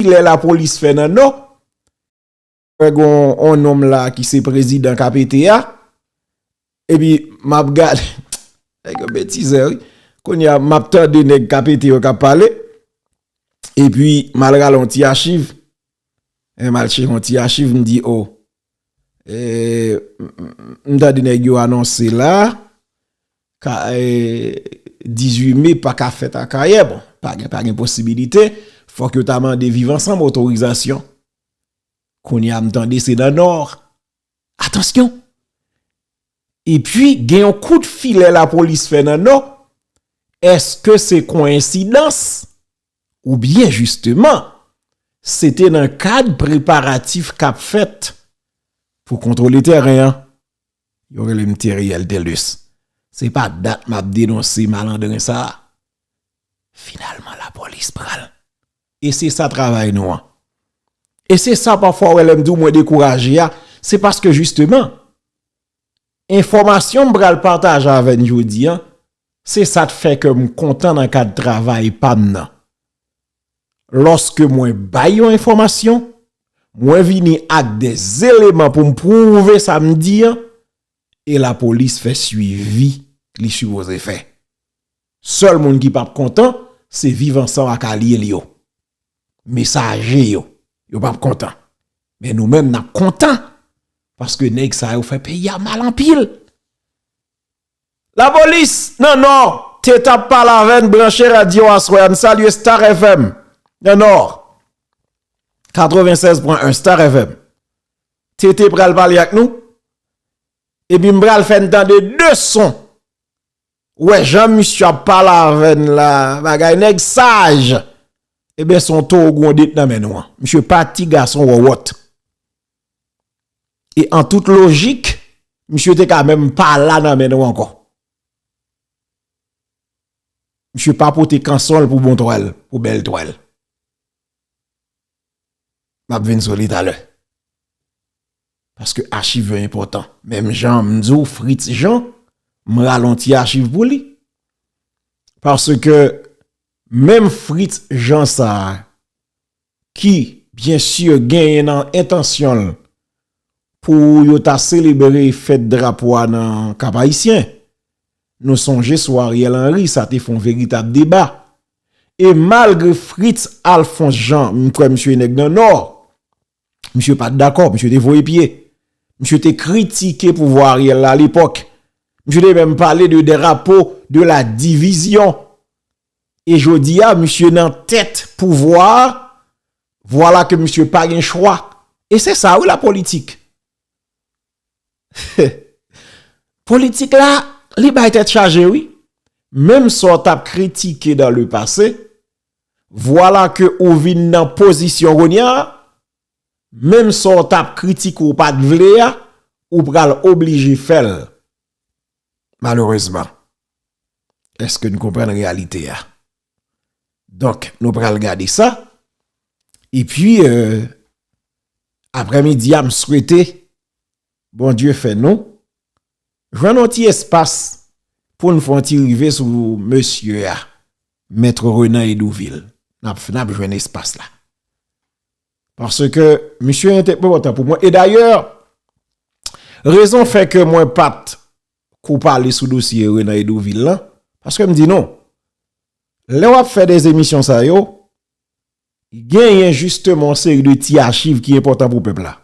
kilè la polis fè nan no wè gon on nom la ki se prezidan ka pete ya epi map gad nèg yo betizè wi kounya map tande nèg ka pete yo kap pale epi mal rale yon ti achiv epi mal chire yon ti achiv mdi o M tande nèg yo anonse la, 18 me pa ka fèt Akayè, bon, pa gen posibilite, fòk yo ta mande Viv Ansanm otorizasyon. Kounye a m tande se nan Nò. Atansyon! E pi gen yon kout filè lapolis fè nan Nò, èske se koyensidans? Ou byen jisteman, se te nan kad preparatif k ap fèt pou kontwole tèren an. Yo rele m Theriel Thelus. Se pa dat m ap denonse malandren sa a. Finalman lapolis pran l. E se sa travay nou an. E se sa pafwa wè lè m di w mwen dekouraje a, se paske jisteman, Enfòmasyon m pral pataje avè n jodi an, se sa t fè kè m kontan nan kad travay pa m nan. Lòske mwen bay yon enfòmasyon, mwen vini ak de zeleman pou m pwouve sa m di an, e lapolis fè swivi li sipoze fè. Sèl moun ki pap kontan se viv ansanm ak alye l yo. Mesaje yo, yo pap kontan. Men nou menm nap kontan paske nèg sa yo fè peyi a mal anpil. Lapolis nan nò te tap pale avè n branche radyo aswè a n salye Star FM nan nò 96.1 Star FM TT pral pale ak nou epi m pral fè n tande 2 son. Ou wè jan misye ap pale avè n la a, bagay nèg saj! Eben se yon towo gwonde t nan men nou an. Misye pa ti gason wòwòt. E an tout lojik, misye te ka menm pa la nan men nou ankò. Misye pa pote kanson l pou bon twèl, pou bèl twèl. Map vin sou li talè. Paske achiv yo enpòtan. Menm jan m di w Fritz Jean, m ralonti achiv pou li. Paske menm Fritz Jean sa a, ki byen sye genyen nan entansyon l pou yo ta selebre fèt drapo a nan Kap Ayisyen. Nou sonje sou Ariel Henry sa te fon veritab deba. E malgre Fritz Alphonse Jean, m kwè misye e nèg nan Nò, misye pa t dakò, misye te voye pye. Misye te kritike pouvwa Ariel la alepòk. Misye te menm pale de drapo de la divizyon. E jodi a, misye nan tèt pouvwa a, vwala ke misye pa gen chwa. E se sa wi la politik. Politik la li bay tèt chaje wi. Menm sa w t ap kritike dans le passé, vwala ke ou vin nan pozisyon kounya, menm sa w t ap kritike w pa t vle a, ou pral oblije fè l. Malerezman. Eske n konprann reyalite a? Donk nou pral gade sa. E pi euh, aprè midi a m swete Bondye fè nou jwenn yon ti espas pou n fè yon ti rive sou mesye a Maître Renan Hédouville. N ap n ap jwenn espas la. Paske misye entepo pou mwen. E dayè rezon fè ke mwen pa t. Kou pale sou dosye Renan Hédouville lan, paske m di nou, lè w ap fè de emisyon sa yo, genyen jisteman yon seri de ti achiv ki enpòtan pou pèp la.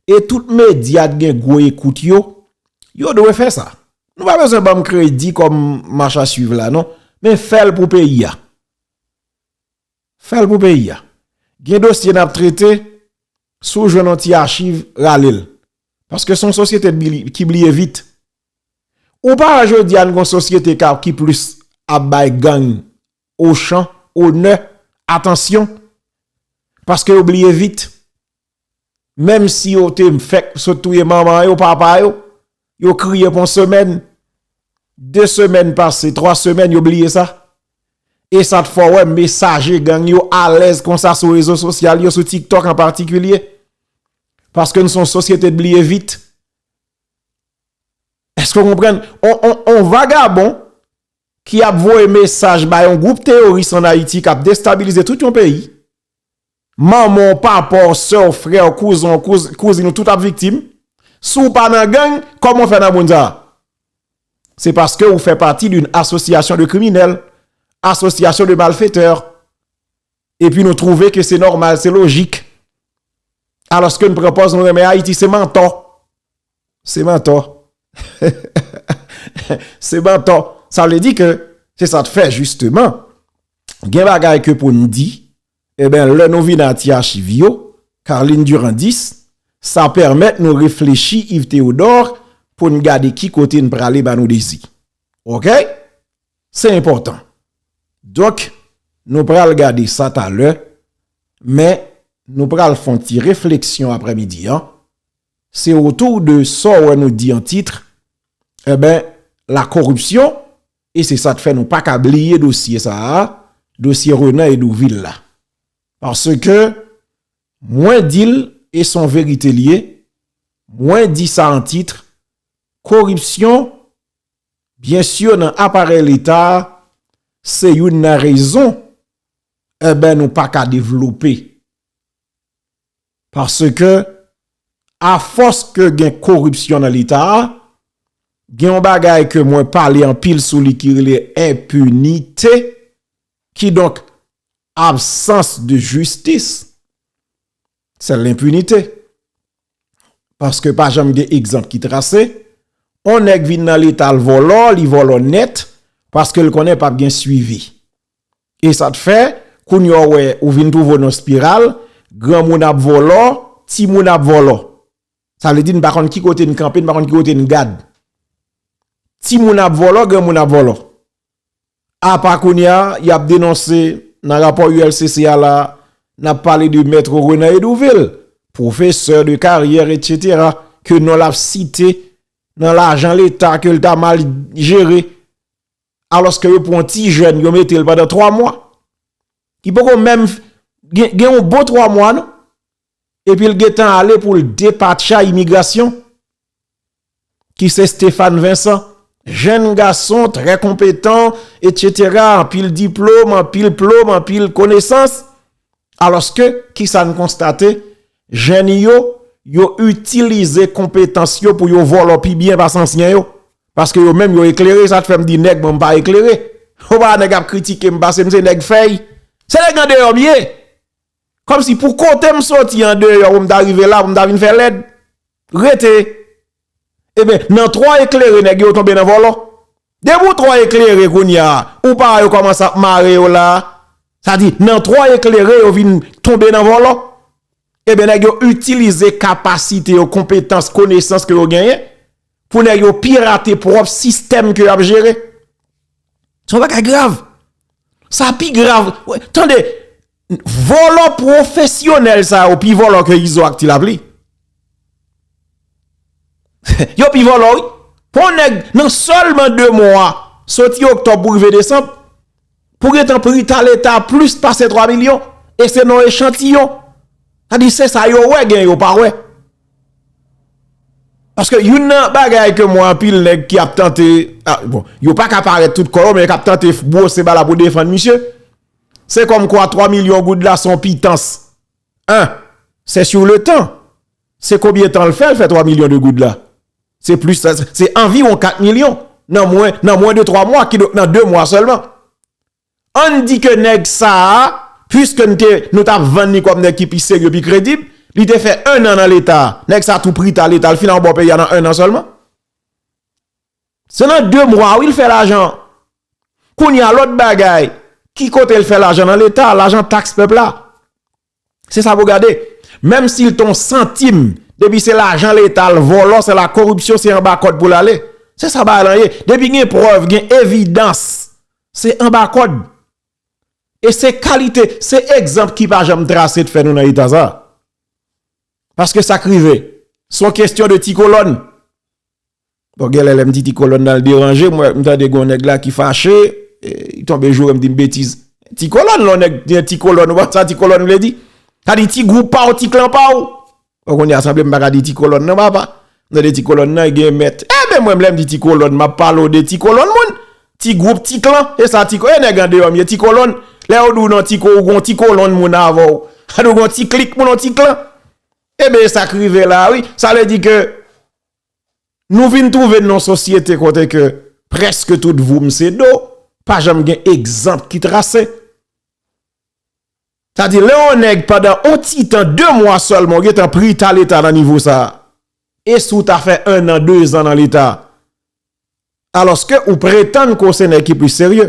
E tout medya t gen gwo ekout yo, yo dwe fè sa. Nou pa bezwen ban m kredi kòm machasuiv la non, men fè l pou peyi a. Fèl pou peyi a. Gen dosye nap trete, si w jwenn yon ti achiv, rale l. Paske se yon sosyete ki bliye vit. Ou pa wè jodi a nou gen yon sosyete ki plis ap bay gang ochan, onè, atansyon. Paske yo bliye vit. Menm si yo te fèk sot touye manman yo, papa yo, yo kriye pou yon semèn, de semèn pase, twa semèn yo bliye sa. E sa t fè wè mesaje gang yo alèz konsa sou rezo sosyal yo, sou TikTok an patikilye. Paske n son sosyete bliye vit. Eske w konprann? On vagabon ki ap voye mesaj ba yon gwoup teyoris an Ayiti k ap destabilize tout yon peyi. Manman w, papa w, sè w, frè w, kouzen w, kouzin w tout ap viktim. Si w pa nan gang, kòman w fè nan moun sa a? Se paske ou fè pati d'une association de criminels, association de malfaiteurs. Epi nou twouve ke se nòmal, se lojik. Alòske nou pran pòz nou renmen Ayiti, se mantò. Se mantò. Se mantò. Sa vle di ke se sa t fè jisteman gen bagay ke pou n di. Enben, lè nou vin a ti achiv yo, Carline Durandis, sa pèmèt nou reflechi Yves Théodore pou n gade ki kote n prale ba nou dezi. Ok? Se enpòtan. Donk, nou pral gade sa talè, men nou pral fon ti refleksyon aprè midi an, se otou de sa w wè nou di an titre, enben, la corruption E se sak fè nou pa ka bliye dosye sa a, dosye Renan Hédouville la. Paske mwen di l e son verite li ye, mwen di sa an titre, koripsyon byen sur nan aparèy leta a se youn nan rezon enben nou pa ka devlope Paske a fòs ke gen koripsyon nan leta a, gen yon bagay ke mwen pale anpil sou li ki rele enpinite, ki donk absans de jistis. Se lenpinite. paske pa janm gen egzanp ki trase, on nèg vin nan leta l vòlò, li vòlò nèt, paske l konnen pap gen swivi. E sa t fè, kounye a w wè, ou vin twouve w nan spiral, granmoun ap vòlò, timoun ap vòlò. Sa vle di n pa konn ki kote n kanpe, n pa konn ki kote n gad. Timoun ap vòlò, granmoun ap vòlò. Apa kounye a, y ap denonse nan rapò ULCC a la, n ap pale de Mèt Renan Edouvil, pwofesè de karyè etsetera, ke non l ap site nan lajan leta ke l ta mal jere, alòske yo pran ti jèn yo mete l pandan 3 mwa, ki poko menm gen yon bon 3 mwa non. Epil gentan ale poul depatcha imigrasyon ki se Stéphane Vincent jenn gason trè konpetan etc anpil diplome anpil plome anpil konesans aloske kisa n konstate jenn yo yo itilize konpetans yo pou yo vòlò pi byen pase ansyen yo paske yo menm yo eklere sa k fèm di nèg mwen m pa eklere ou pa wè nèg ap kritike m pase m se nèg fèy se nèg andeyò m ye. Kòmsi pou kote m soti andeyò pou m ta rive la pou m ta vin fè lèd? Rete! Eben, nan twò eklere nèg yo tonbe nan vòlò. Depi ou twò eklere kounye a, ou pa wè yo kòmanse ap mare yo la a? Sa di, nan twò eklere yo vin tonbe nan vòlò. Eben, nèg yo itilize kapasite yo, konpetans, konesans ke yo genyen. Pou nèg yo pirate pwòp sistèm ke yap jere. Son bagay grav. Sa pi grav. Tande, vòlò pwofesyonèl sa yo pi vòlò ke Izo ak Ti Lapli. Yo pi vòlò wi. Pou nèg nan sèlman 2 mwa, soti Oktob pou rive Desanm, Pou gentan pri ta leta plis pase 3 milyon e se nan echantiyon. Sa di se sa yo wè gen yo pa wè. Paske youn nan bagay ke mwen anpil nèg ki ap tante, bon, yo pa ka parèt tout kò yo men yo kap tante bwose bala pou defann misye, se kòm kwa 3 milyon goud la son pitans. 1. Se sur le tan. Se konbyen tan l fè l fè 3 milyon de goud la? Se plis sa, se anviwon 4 milyon nan mwen, nan mwen de 3 mwa, kidonk nan 2 mwa sèlman. An n di ke nèg sa a, puiske n te, nou ta vann li kòm nèg ki pi serye, pi kredib, li te fè ennan nan leta, nèg sa a tou prita leta, li fin anba w peyi a nan ennan sèlman. Se nan 2 mwa wi l fè lajan an. Kounye a lòt bagay, ki kote l fè lajan nan leta, lajan taks pèp la. Se sa pou gade. Menm si l te yon santim, depi se lajan leta l vòlò, se lakoripsyon, se anba kòd pou l ale. Se sa bagay lan ye. Depi gen prèv, gen evidans, se anba kòd. E se kalite, se egzanp ki pa janm trase te fè nou nan eta sa. Paske sa k rive, son kestyon de ti kolòn. Bon genlè lèm di ti kolòn nan l deranje m m tande gen yon nèg la ki fache li tonbe joure m di m betiz ti kolòn lè yon nèg gen ti kolòn ou pa konn sa ti kolòn vle di sa di ti gwoup pa w ti klan pa w bon kounye a sanble m pa ka di ti kolòn nan papa m tande ti kolòn nan gen mèt enben mwen lè m di ti kolòn m ap pale w de ti kolòn moun ti gwoup ti klan e sa ti e nèg andeyò m ye ti kolòn lè yo di w nan ti ko ou gon ti kolòn moun avè w sa di w gon ti klik moun yon ti klan enben e sa k rive la wi sa vle di ke Nou vin twouve nan yon sosyete kote ke preske tout voum se do, pa janm gen egzanp ki trase. Sa di lè yon nèg pandan yon ti tan, 2 mwa sèlman ou gen tan pri ta leta nan nivo sa. E si w ta fè 1 an, 2 zan nan leta. Alòske ou pretann ke w se nèg ki plis serye.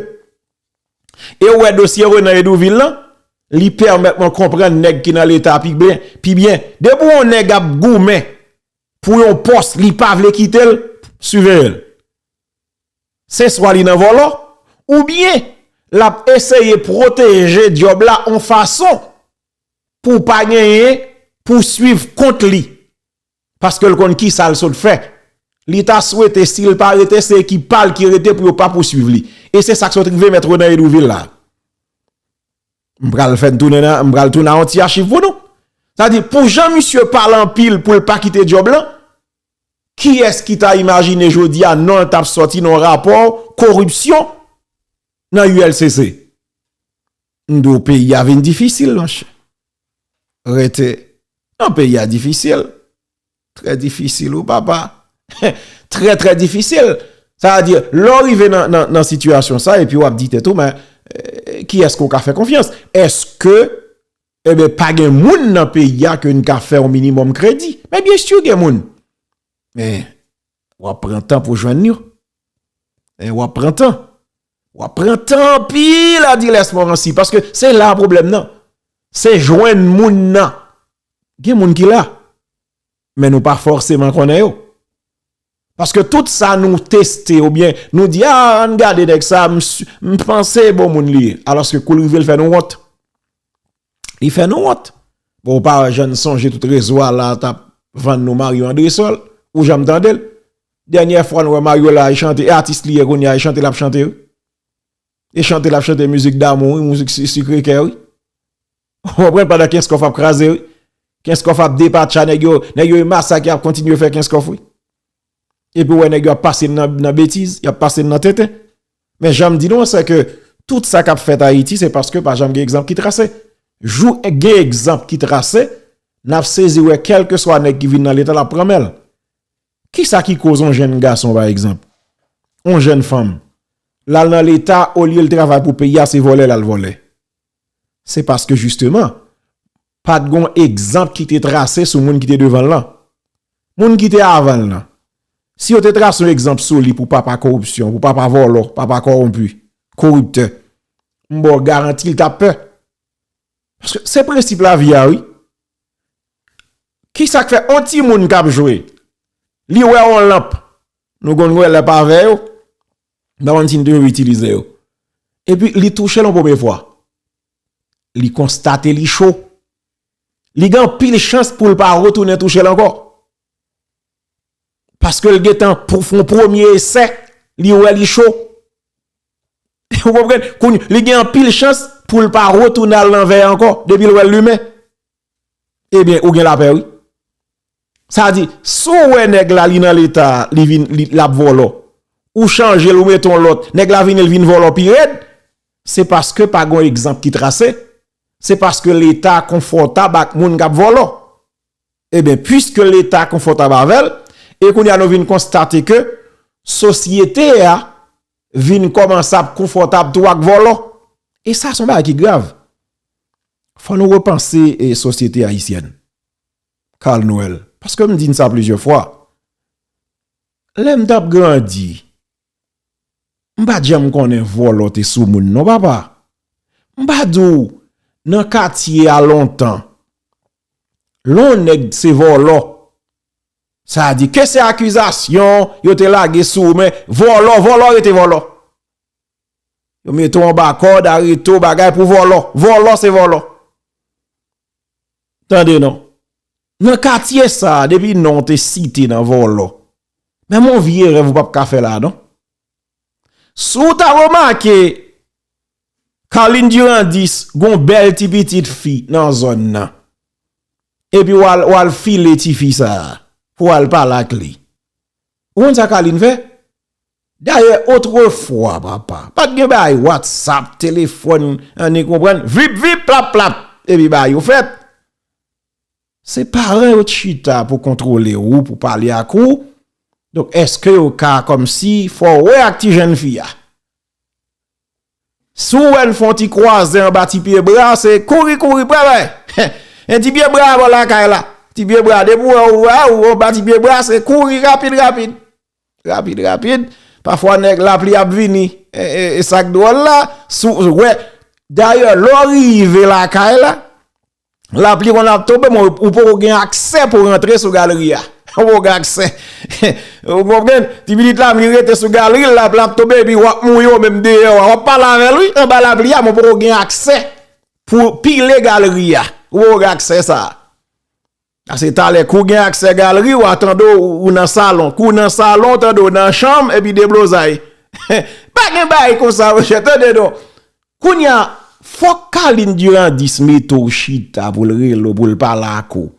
E ou wè dosye Renan Hédouville lan, li pèmèt mwen konprann nèg ki nan leta pi byen. Depi yon nèg ap goumen Pou yon pòs li pa vle kite l, siveye l. Se swa li nan vòlò, oubyen l ap eseye pwoteje dyòb la yon fason pou pa genyen pouswiv kont li. Paske l konn kisa l sot fè. Li ta swete si l pa rete se ekip pa l ki rete pou yo pa pouswiv li. E se sa k sot rive mèt Renan Edouvil la. M pral fè n tounen nan, m pral tounen ak yon ti achiv pou nou. Sa di pou jan misye pale anpil pou l pa kite djòb lan, kiyès ki ta imajine jodi a non l t ap sòti nan yon rapò koripsyon nan ULCC? M di w peyi a vin difisil monchè. Rete nan peyi a difisil. Trè difisil wi papa. Trè trè difisil. Sa a di, lè w rive nan sitiyasyon sa epi w ap di tèt ou men, ki èske w ka fè konfyans? Èske, eben, pa gen moun nan peyi a ke n ka fè yon minimòm kredi? Men byensi gen moun. Men, Wap pran tan pou jwenn yo. E wap pran tan. Wap pran tan anpil Adiles Morancy. Paske se la problem nan. Se jwenn moun nan. Gen moun ki la. Men nou pa forceman konnen yo. Paske tout sa nou teste ou bien nou di a an gade nèk sa m panse bon moun li ye. Aloske kou l rive l fè nou wont. Li fè nou wont. Bon ou pa jann sonje tout rezo a la tap vann nou Mario Andresol. Ou janm tande l? Dènyè fwa nou wè Mario la e chante e atis li ye kounya e chante lap chante wi. E chante lap chante mizik damou wi mizik sikre kè wi. Ou konprann pandan kenskof ap kraze wi. Kenskof ap depatcha nèg yo nèg yo e masak yap kontinye fè kenskof wi. Epi wè nèg yo ap pase n nan betiz, y ap pase n nan tenten. Men jan m di nou an sè ke tout sa k ap fèt Ayiti se paske pa janm gen egzanp ki trase. Jou gen egzanp ki trase, n ap sezi wè kèlkeswa nèg ki vin nan leta l ap pran men l. Ki sa ki koz yon jenn gason pa egzanp, yon jenn fanm, l al nan leta olye l travay pou peyi a se vòlè l al vòlè. Se paske jisteman, pa t gon egzanp ki te trase sou moun ki te devan l lan. Moun ki te avan l lan, si yo te trase yon egzanp sou li pou papa koripsyon, pou papa vòlò, papa kowonpi, koriptè, m ba w garanti l t ap pè. Paske se prensip lavi a wi. Kisa k fè yon timoun k ap jwe, li wè yon lanp, nou konn wè lè pa vè yo, Mpa konn si nou toujou itilize yo. Epi li touchel yon premye fwa. Li konstate li cho. Li gen anpil chans poul pa retounen touchel ankò. Paske l gentan pou fon premye esè, li wè li cho. Ou konprann? Li gen anpil chans poul pa retounen al nan vè ankò. Depil wèl limen. Ebyen ou gen lapè wi. Sa di, si w wè nèg la li nan leta a, li vin l ap vòlò, ou chanje l ou mete yon lòt, nèg la vini l vin vòlò pi rèd, se paske pa gen yon egzanp ki trase, se paske leta konfòtab ak moun k ap vòlò. Ebyen, puiske leta konfòtab avè l, e kounye a nou vin konstate ke sosyete a vin kòmanse ap konfòtab tou ak vòlò. E sa se yon bagay ki grav. Fò nou repanse sosyete ayisyèn. Carl Noël, paske m di n sa plizyè fwa, lè m t ap grandi, m pa t janm konnen vòlò te sou moun non papa. M pa di w nan katye a lontan, lè yon nèg se vòlò, sa di ke se akizasyon yo te lage sou ou men vòlò, vòlò rete vòlò. Yo mete w anba kòd, arete w bagay pou vòlò. Vòlò se vòlò. Tande non. Nan katye sa, depi non w te site nan vòlò. Men m on vye rèv ou pap ka fè la non. Si w ta remake, Carline Durandis gon bèl ti pitit fi nan zòn nan. Epi w al, w al file ti fi sa. Pou w al pale ak li. Ou konn sa Carline fè? Dayè otrefwa papa pat gen bagay whatsapp, telefòn an e konprann, vip vip plap plap epi bagay yo fèt. Se paran yo t chita pou kontwole ou, pou pale ak ou, donk eske yo ka kòmsi fè w wè ak ti jèn fi a? Si w wè l fè yon ti kwaze anba ti pye bra, se kouri kouri pre bay. Men ti pye bra a bò lakay la. Ti pye bra, depi w wè w wè w anba ti pye bra, se kouri rapid rapid. Rapid rapid. Pafwa nèg lapli ap vini. E sa k dwòl la, si w wè. Dayè, lè w rive lakay la. Lapli konn ap tonbe men ou poko gen aksè pou rantre sou galri a. Ou poko gen aksè. Ou konprann? Ti pitit la vin rete sou galri l, lapli ap tonbe epi wap mouye ou menm deyò a. Wap pale avè l wi anba lapli a men ou poko gen aksè pou pile galri a. Ou poko gen aksè sa a. Ase talè kou gen aksè galri wa tande w nan salon, kou nan salon tande w nan chanm epi deblozay. Pa gen bagay konsa monchè tande non. Kounya fòk Carline Durandis mete w chita pou l rele w pou l pale ak ou.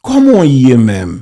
Kòman w ye menm?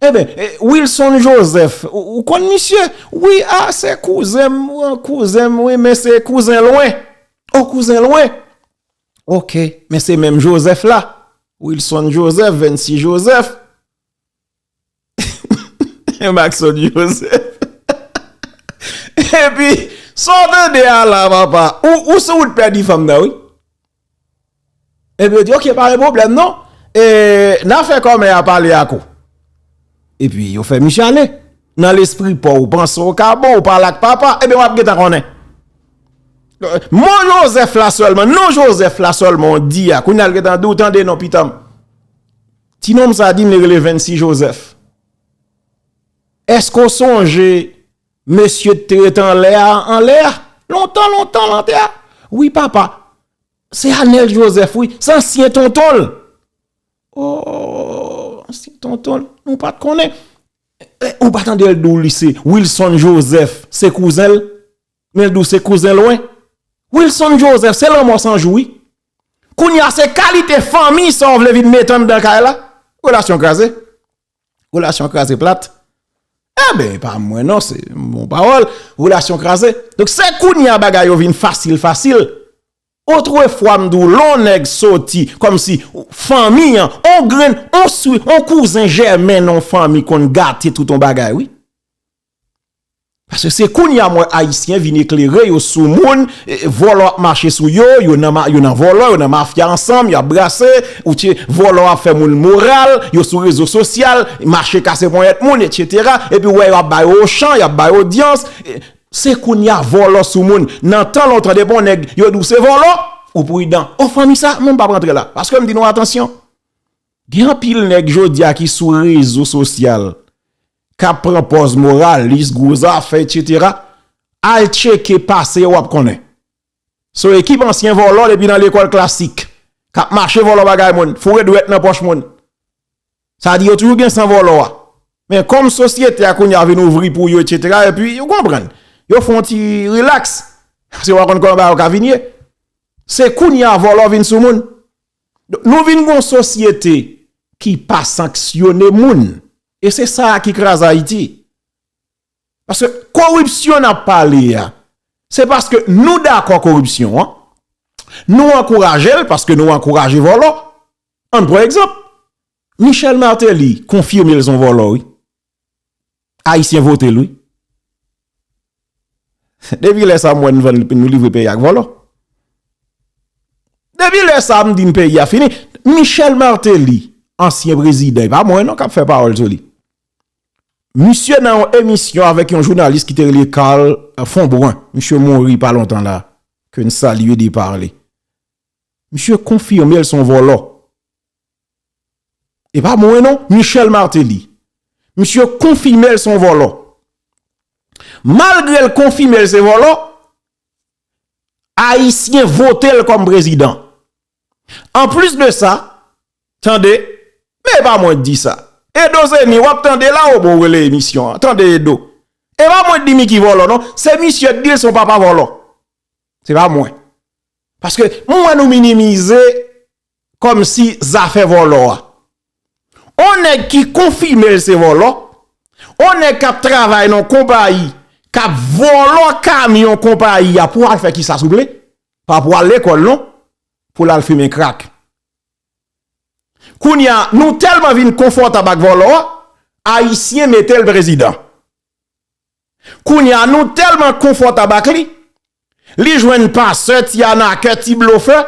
Enben, Wilson Joseph, ou konn misye? Wi, a, se kouzen m, kouzen m, wi, men se kouzen lwen. O, kouzen lwen? Ok, men se menm Joseph la. Wilson Joseph, Vency Joseph. Maxon Joseph. Epi, sa w tande a la, papa? Ou sou wout pèdi fanm nan, wi. Epi yo di ok pa gen pwoblèm non, e nan fè kòmè a pale ak ou. Epi yo fè misye ale, nan lespri pa w ou panse w ka bon, ou pale ak papa, epi w ap gen tan konnen. Mo Jozèf la sèlman, non Jozèf la sèlman w di a, kounye a l gen tan di w tande non pitanm. Ti nonm sa di m li rele 26 Jozèf. Èske w sonje Mesye t ret anlè a anlè a lontan lontan lan tè a wi papa se anèl joseph wi se ansyen tontonl ooh ansyen tontonl nou pat konnen ou pa tandel diw li se wilson joseph se kouzenl menl diw se kouzen lwen wilson joseph se lanmò san jou wi kounya se kalite fanmi sa w vle vin met anndan kay la relasyon kraze. Relasyon kraze plat. E eh ben, pa mwen non, se moun pawol. Relasyon kraze. Donk se koun ya bagay yo vin fasil fasil. Otre fwa m dou lon neg soti, kom si, fanmi an, on grenn, on swi, on kouzen jèmen non fanmi konn gate tout on bagay wi. Paske se kounya m wè ayisyen vin eklere yo sou moun, vòlò ap mache sou yo, yo nan vòlò, yo nan mafya ansanm, yo ap brase, ou tye, vòlò ap fè moun moral, yo sou rezo sosyal, mache kase ponyèt moun, etc. Epi ou wè yo ap ba yo ochan, y ap ba yo odyans. Se kounya vòlò sou moun. Nan tan lontan depi yon nèg yo di w se vòlò, ou pridan. O fanmi sa, mwen m pap rantre la. Paske m di nou atansyon. Gen anpil nèg jodi a ki sou rezo sosyal, kap pran pòz moralis, gwo zafè etc. Al tcheke pase yo wap konnen. Se yon ekip ansyen vòlò depi nan lekòl klasik. Kap mache vòlò bagay moun, foure dwèt nan pòch moun. Sa di yo toujou gen san vòlò a. Men kòm sosyete a kounya vin ouvri pou yo etc. Epi yo konprann. Yo fon ti relax. Paske yo pa konn kòman bagay yo ka vin ye. Se kounya vòlò vin sou moun. Nou vin gon sosyete ki pa sanksyone moun. E se sa ki kraze Ayiti. Paske koripsyon n ap pale a, se paske nou dakò koripsyon an, nou ankouraje l paske nou ankouraje vòlò. An n pran egzanp, Michel Martelly konfime l son vòlò wi. Ayisyen vote l wi. Depi lè sa m wè n vann nou livre peyi ak vòlò. Depi lè sa m di n peyi a fini. Michel Martelly, ansyen prezidan, e pa mwen non k ap fè pawòl sou li. Misye nan yon emisyon avèk yon jounalis ki te rele Carl Fombrun, misye mouri pa lontan la, ke n salye depa li. Misye konfime l s on vòlò. E pa mwen non, Michel Martelly. Misye konfime l se yon vòlò. Malgre l konfime l se vòlò, Ayisyen vote l kòm prezidan. An plis de sa, tande, men e pa mwen k di sa. Edo Zeni, w ap tande la o, bon w rele emisyon an. Tande Edo. E pa mwen k di Micky vòlò non. Se misye k di l se yon papa vòlò. Se pa mwen. Paske mwen wè nou minimize. Kòmsi zafè vòlò a. On nèg ki konfime l se vòlò, on nèg k ap travay nan konpayi k ap vòlò kamyon konpayi a pou al fè kisa souple? Pa pou al lekòl non, pou l al fimen krak. Kounye a, nou tèlman vin konfòtab ak vòlò a, Ayisyen mete l prezidan. Kounye a, nou tèlman konfòtab ak li, li jwenn pasè, ti anakè, ti blofè,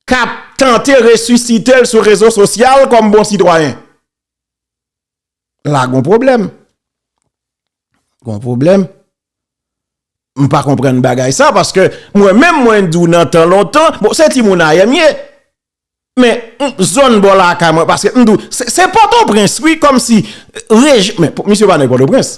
kap tante resusite l sou rezo sosyal kòm bon sitwayen. La gon pwoblèm. Gon pwoblèm. M pa konprann bagay sa paske mwen menm mwen di w nan tan lontan, bon se ti moun ayè m ye, men zòn bò lakay mwen paske m di w se pòtoprens wi kòm si rejyon men misye pa nan pòtoprens.